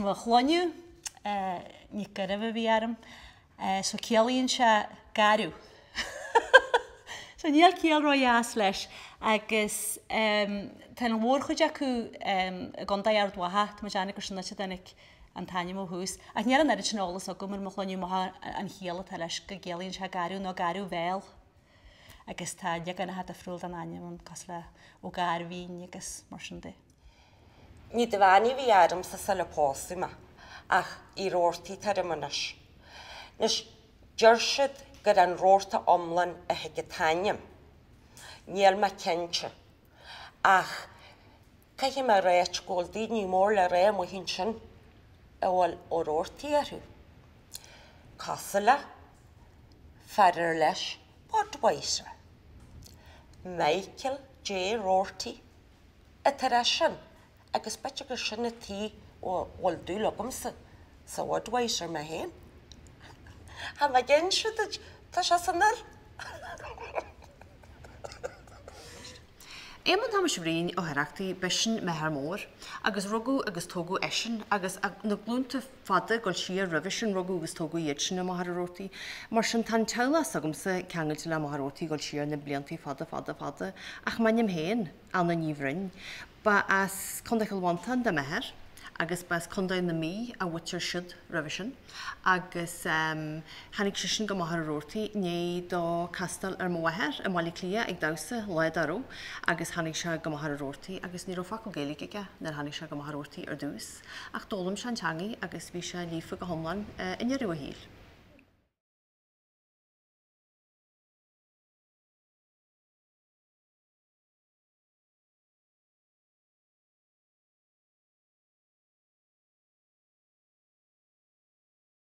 mo shloinneadh, Nic Gairbheith a bhí orm, so ciallaíonn sé garbh. So níl ciall ró dheas leis agus tá an mhórchuid acu i gCondae Ard Mhacha, tá mé ag déanamh gur sin an áit a dtáinig an t-ainm ó thús. Ach níl an oiread sin eolas agam ar mo shloinneadh amach ón chiall atá leis go gciallaíonn sé garbh nó garbh-bhéal agus tá leaganacha difriúil den ainm ann cosúil le Ó Gairbhín agus mar sin de. Ní Dhuibheannaigh a bhí ormsa sular pósadh mé ach Uí Rabhartaigh atá orm anois. Anois deir siad gur ón rabharta iomlán a thig an t-ainm. Níl mé cinnte. Ach caithfidh mé a ráit go bhfuil daoine mór le rá amuigh ansin a bhfuil Ó Rabhartaigh orthu. Cosúil le, fear ar leis Budweiser. Michael J. Roarty. atá air sin, agus b'fhéidir gur sin an tuige a bhfuil dúil agamsa sa Bhudweiser mé féin. Tá mé ag inse duit, tá sé san fhuil. Éamonn Thomáis Bhriain Ó hOireachtaigh b'eisean m'athair mór agus rugadh agus tógadh eisean agus na glúnta fada, ag gabháil siar roimhe sin rugadh agus tógadh iad sin i Machaire Rabhartaigh. Mar sin tá an teaghlach s'agamsa ceangailte le Machaire Rabhartaigh ag gabháil siar na bliantaí fada, fada, fada. Ach m'ainm féin, Anna Ní Bhroin, ba as Contae Chill Mhantáin do m'athair agus ba as Contae na Mí a mhuintir siúd roimhe sin agus tháinig seisean go Machaire Rabhartaigh i ndiaidh dó castáil ar mo mháthair i mBaile Átha Cliath ag damhsa lá dá raibh agus tháinig sé go Machaire Rabhartaigh agus ní raibh focal Gaeilge aige nuair a tháinig sé go Machaire Rabhartaigh ar dtús. Ach d'fhoghlaim sé an teangaidh agus bhí sé líofa go hiomlán i ndeireadh a shaoil.